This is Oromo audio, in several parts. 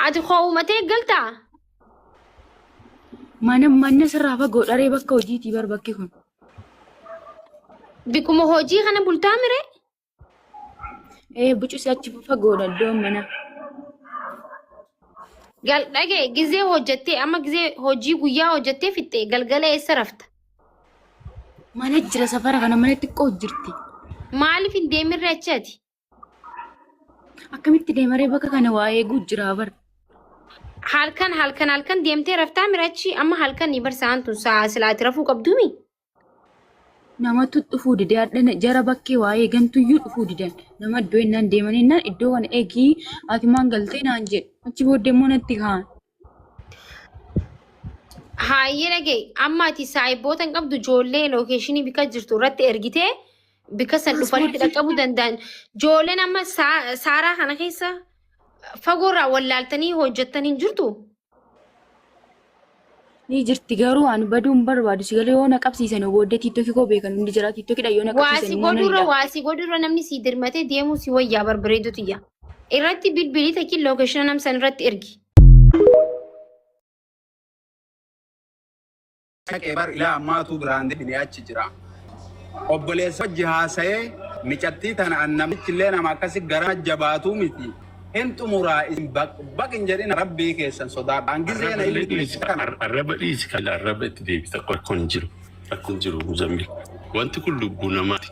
Ati koo uumatee galtaa? Mana manna sirraa fagoo dharee bakka hojiitii bar bakki kun. Bikkuma hojii kana bultaa mire? Ee bucusi achi fagoodha iddoon mana. Gal dhagee gizee hojjettee amma gizee hojii guyyaa hojjettee fixxee galgala eessa rafta? Mana jira safara kana mana xiqqoo jirti. Maaliif hin deemirre achi ati? Akkamitti deemaree bakka kana waa eeguu jira bar. Halkan halkan halkan deemtee raftaa mirachi amma halkan ni barsaan tun sa'a silaati rafuu qabduumi. Namatu dhufuu dide hadhana jara bakkee waa eegantuyyuu dhufuu didan. Nama iddoo innaan deeman innaan iddoo kana eegii ati maan galtee naan jedhe. Achi booddee immoo natti kaan. Haayee dhagee amma ati saayiboota hin qabdu ijoollee lookeeshinii bika jirtu irratti ergitee bika san dhufanitti dhaqqabuu danda'an. Ijoolleen amma saa- saaraa kana keessa fagoorraa wallaaltanii hojjettan hin jirtu. Ni jirti garuu ani baduu hin barbaadu si galee yoo na qabsiisan booddee tiiktokii koo beekan hundi jira tiiktokidha yoo na Waasi qabsiisan godhurra waasi godhurra namni sii dirmatee deemuu si wayyaa barbareedutu yaa. Irratti bilbilii takiin lookeshina nam san irratti ergi. Dhaqee bar ilaa ammaatuu biraan deebinee achi jira. Obboleessa wajji haasa'ee micattii tana an namichi illee nama akkasi gara jabaatuu miti. Hin xumuraa isin baq baq hin jedhina rabbii keessan sodaadha. An gizee na ilmi dhiisi kana. Arraba dhiisi kana arraba itti deebita rakkoon jiru rakkoon jiru muzammil wanti kun lubbuu namaati.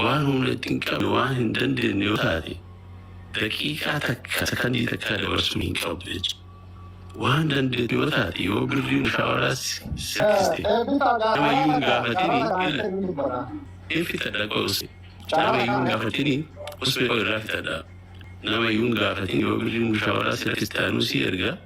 waan humna itti hin qabne waan hin dandeenye yoo taate daqiiqaa takka sakandii takka dabarsuu hin qabdu jechuudha. Waan dandeettu yoo taate yoo birrii mushaawaraa sikkiste nama iyyuu hin gaafatini hin fitadha qoose nama iyyuu hin gaafatini osoo irraa fitadha nama iyyuu hin gaafatini yoo birrii mushaawaraa sikkiste anuu si erga.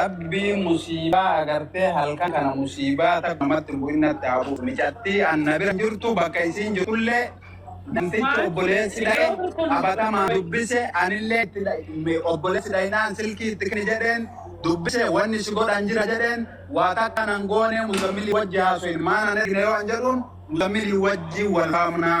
Rabbii musiibaa agartee halkan kana musiibaa takka namatti hin bu'in natti haa bu'u. Micattii an na bira jirtu bakka isiin jirtullee namtichi obboleessi dhaye qabatamaan dubbise anillee itti dhaye obboleessi dhayinaan silkii itti kenni jedheen dubbise wanni si godhan jira jedheen waa takka nan goonee muzammilii wajji haasoyin maana hin ergine yoo an jedhuun muzammilii wajji wal faamnaa.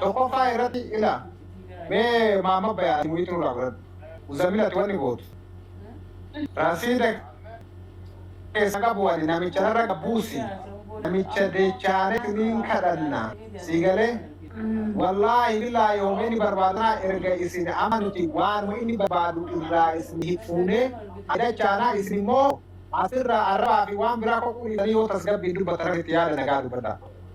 Tokkoffaa irratti ila mee maamma bayaati muhiitu irraa godhadhu. Muzammil ati wanni gootu. Rasiida keessa qabu wani namicha irra qabuusi. Namicha dechaaneti niin kadhanna. Sii galee? Wallaahi billaahi hoomee ni barbaadanaa erga isin amma nuti waanuma inni barbaadu irraa isin hifuunee adachaanaa isin immoo asirraa arrabaa fi waan biraa qoqquu dhiisanii yoo tasgabbiin dubbatan itti yaada nagaa dubbadhaa.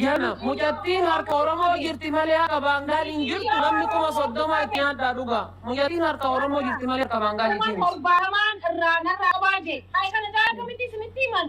Gana mucattiin harka Oromoo jirti malee harka baangaal hin jirtu namni kuma soddoma itti nyaadhaa dhugaa. Mucattiin harka Oromoo jirti malee harka baangaal hin jirtu. Torbaatamaan irraa narraa qabaa jee. Kan kana taa'aa kamitti isinitti himan?